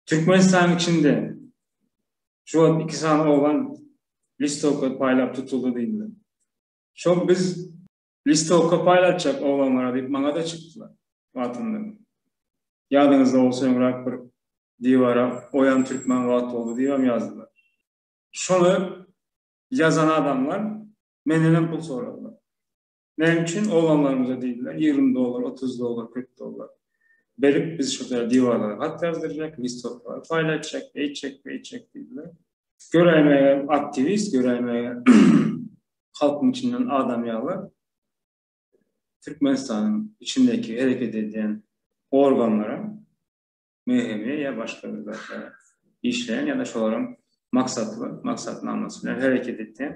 Türkmenistanyň içinde şu wagt iki sany oban listowka paýlap tutuldy diýdiler. Şol biz listowka paýlatjak obanlara diýip maňa-da çykdylar wagtynda. Ýadyňyzda bolsa öňräk bir Diwara oýan türkmen wagt boldy diýibem ýazdylar. Şony ýazan adamlar mendenem pul soradylar. Näme üçin oglanlarymyza diýdiler, ýigrimi dollar, otuz dollar, kyrk dollar berip, biz şurada diwarlara hat ýazdyrjak, listoklary paýlatjak, eýtjek, beýtjek diýdiler. Göräýme aktiwist, göräýme halkyň içinden adam ýaly Türkmenistanyň içindäki hereket edýän organlara möhümi ýa başga bir zatlar işleýän ýa-da şolaryň maksatly maksatnamasy bilen hereket etýän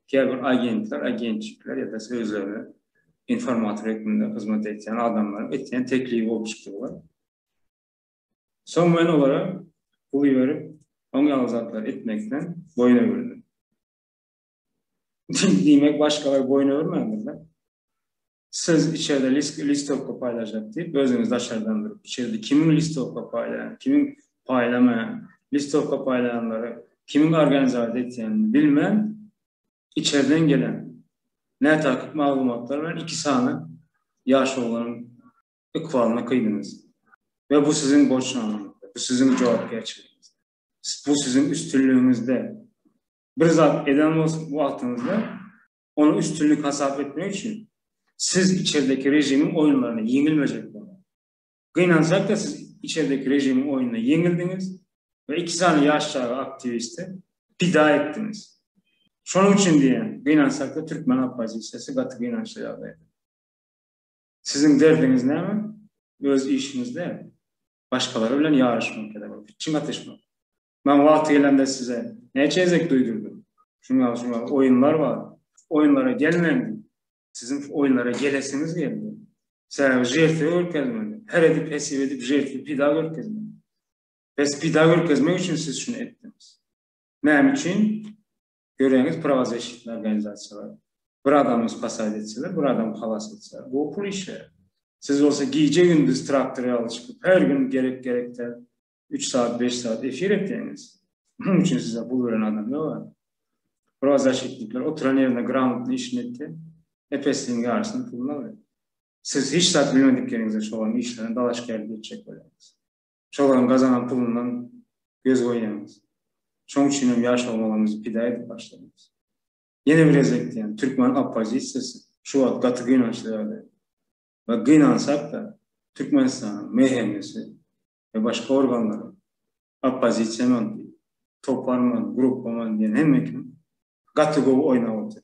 käbir agentler, agentlikler ýa-da özleri informator hökmünde hyzmat edýän adamlaryň etýän teklibi bolup çykýar. Soň men olara pul ýörüp, oň ýaly zatlar etmekden boýun öwürdim. Diýmek, başgalar boýun öwürmändirler. Siz içerde listowka paýlaşak diýip, özüňiz daşardan durup, içerde kimiň listowka paýlaýan, kimiň paýlamaýan, listowka paýlaýanlary kimiň organizasiýa etýänini bilmän, içerden gelen nätakyk maglumatlar bilen iki sany ýaş oglanyň ykbalyna kyýdyňyz. We bu siziň borçnamaňyzda, bu siziň jogapkärçiligiňizde, bu siziň üstünligiňizde bir zat eden bolsa wagtyňyzda ony üstünlik hasap etmek üçin siz içerdeki režimiň oýunlaryna ýeňilmejek bolmaly. Gynansak-da siz içerdeki režimiň oýnunda ýeňildiňiz we iki sany ýaş çaga aktiwisti pida etdiňiz. Şonuň üçin diýýän, gynansak-da türkmen oppozisiýasy gaty gynançly ýagdaýda. Siziň derdiňiz näme? Öz işiňizde başgalar bilen ýaryşmak ýa-da bir pitçing atyşmak. Men wagty gelende size näçe gezek duýdurdym. Şuňa şuňa oýunlar bar. Oýunlara gelmeň. Siziň oýunlara gelesiňiz geldi. Sebäbi žertwe görkezmeli. Her edip hesip edip žertwe pida görkezmeli. Pes pida görkezmek üçin siz şuny etdiňiz. Näme üçin? Göreňiz prawazeşitli organizasiýalar. Bir adamy spasat etseler, bir adam halas etseler. Bu pul işleri. Siz bolsa gije gündüz traktor ýaly çykyp, her gün gerek gerekde üç saat, beş saat efir etýäňiz. Munuň üçin size pul beren adam ýok-a. Prawazaşitnikler oturan ýerinde gramotny işini etýär. Epesligiň ýarysynyň puluny alýar. Siz hiç zat bilmedikleriňize şolaryň işlerine dalaşgärlik etjek bolýaňyz. Şolaryň gazanan pulundan göz goýýaňyz. Şonuň üçin hem ýaş oglanlarymyzy pida edip başladyňyz. Ýene bir gezek diýýän, türkmen oppozisiýasy şu wagt gaty gynançly ýagdaýda. We gynansak-da, Türkmenistanyň MHM-si, we başga organlaryň, oppozisiýaman toparman, gruppaman diýen hemme kim gaty gowy oýnap otyr.